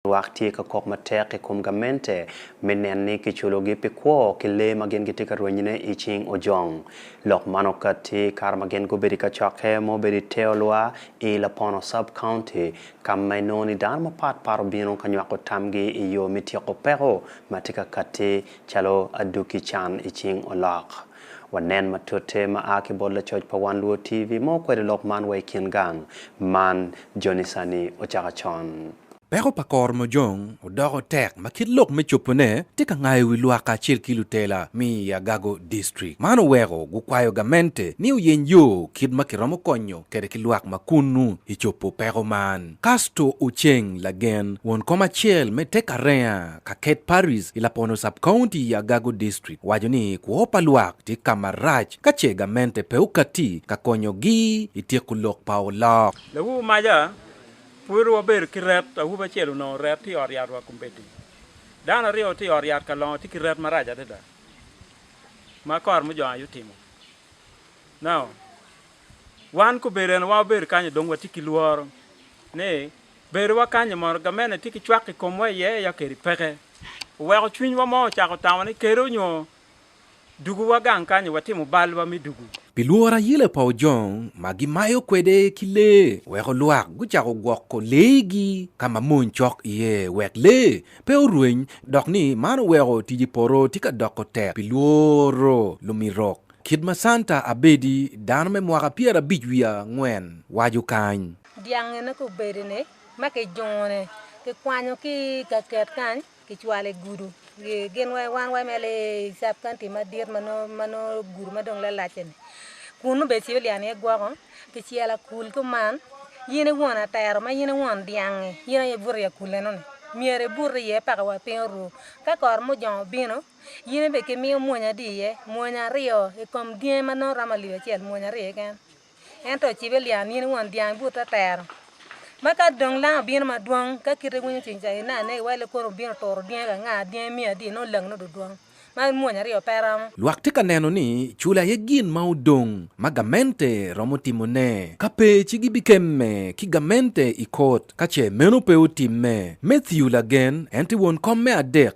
Lwak tye ka kok matek i kom gamente me nen ni kiculogi pi kwo ki lee ma gin gitye ka rwenyone i cing ojong. Lok man okatti kare ma gin gubedo i kacokke ma obedo i Teolwa i Lapono Sub-County, ka ma inongo ni dano mapat pat obino ka nywako tamgi i yo me tyeko peko ma tye ka katti calo adwogi can i cing olok. Wanen matute ma a ki bot lacoc pa Wan Luo TV ma okwedo lok man wa i kin gang man joni sani ocaka con. Peko pa kor mojong odoko tek ma kit lok me cobone tye ka ngayo wi lwak kacel ki lutela mi i Agago District. Man oweko gukwayo gamente ni oyeny yo kit ma kiromo konyo kede ki lwak ma kunnu i cobo peko man. Casto Oceng Lagen, won kom acel me Tek Arenga, Ka Kate Parris i Lapono Sub-County i Agago District owaco ni kwo pa lwak tye ka marac ka ce gamente pe okatti ka konyogi i tyeko lok pa olok. Lawu maja, pwod wabedo ki ret. Awobi acel onongo ret tye i ot yat wa kombeddi. Dano aryo tye i ot yat ka longo tye ki ret marac adada ma kor mujong aye otimo. Now, wan kobedo en wa wabedo kany-nyu dong watye ki lworo ni Bedowa kany i mono gamente tye ki cwak i komwa iye ya kadi peke oweko cwinywa mo ocako tamo ni kede onyo duguwa gang kany i watimo balwa me dugu. Pi lworo ayele pa ojong ma gimayo kwede ki lee oweko lwak gucako gwoko leegi ka ma mony cok iye wek lee pe orweny dok ni man oweko tic i poto tye ka doko tek pi lworo lumirok kit ma Santa Abedi dano me mwaka pyerabic wiye angwen waco kany. Dyangene ka obedone ma kijungo-ni, kikwanyo ki i kaket kany, kicwalo i gudu. Gin wa, wan wa eme lee i Sub County madit ma nongo, ma nongo gudu ma dong lalac-ce-ni. Kun nongo becibo lyang iye gwoko, kicelo akul kuman. In i won atero ma in i won dyang-ngi, in aye ibuto i akul eno-ni. Myero ibut iye paka wa piny oru. Ka kor mujong obino, in bene kimiyo mwonya adi iye? Mwonya aryo i kom dyangi ma nongo romo alip acel, mwonya aryo keken. Ento ocibe lyang nino won dyang but atero. Ma ka dong lang obino madwong, ka kite winyo cwiny ca ina anege wale kono obino turo dyangi ka nga, dyangi miyo adi nongo lang nongo dudwong. Ma mwonya aryo pe romo. Lwak tye ka neno ni cula aye gin ma odong ma gamente romo timone. Ka pe ci gibikemme ki gamente i kot ka ce meno pe otimme. Matthew lagen, en tye won kom me adek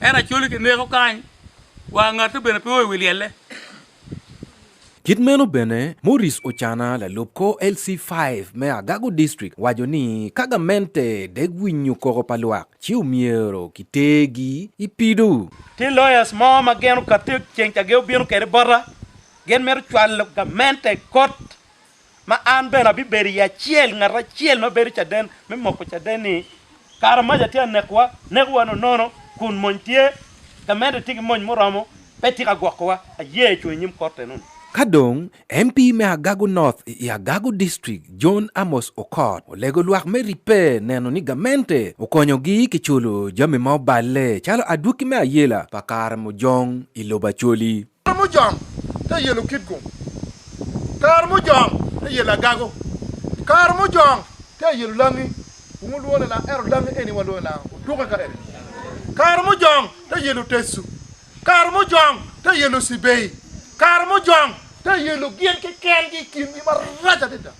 Ento acoli kineko kany, wa ngate bene pe o i wi lyelle. Kit meno bene, Morris Ocana, lalub kor LC five me Agago District, waco ni ka gamente dek winyo koko pa lwak, ci omyero kitergi i pido. Tye lawyers mo ma gin okatte ceng ca gin obino kwede bota, gin mito cwalo gamente i kot ma an bene abibedo i acel, ngat acel ma bedo caden me moko caden-ni. Kara mac atye ka nekowa, neko wa nonono, kun mony tye ka medde, tye ki mony muromo, pe tye ka gwokowa. Aye cung i nyim Korte nongo. Ka dong, MP me Agago North i Agago District, John Amos Okot, olego lwak me ribbe neno ni gamente okonyogi ki culo jami ma oballe calo adwoki me ayela pa kare mujong i lobo Acholi. Kare mujong te yelo kitgum, kare mujong te yelo agago, kare mujong te yelo langi, wun wulwongo ni langa ento langi eni walwongo ni langa otuke ka eni, kare mujong te yelo tecu, kare mujong te yelo cibei, kare mujong te yelo gin kekengi i kingi marac adada,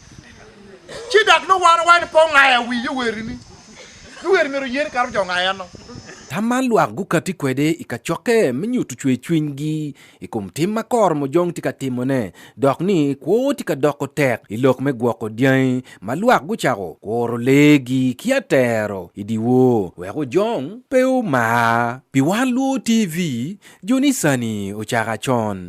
ci dok nongo wan wawaco ni pe ongayo wi yowerini Pi wer myero oyen kato jo nga enno? Tam man lwak gukati kwede i kacokke me nyutu cwer cwinygi i kom tim ma koro mojong tye ka timone dok ni kwo tye ka doko tek i lok me gwoko dyangi ma lwak gucako kuro leegi ki atero i dyewor wek ojong pe omar. Pi wan luo TV, jo ni sani ocako acon.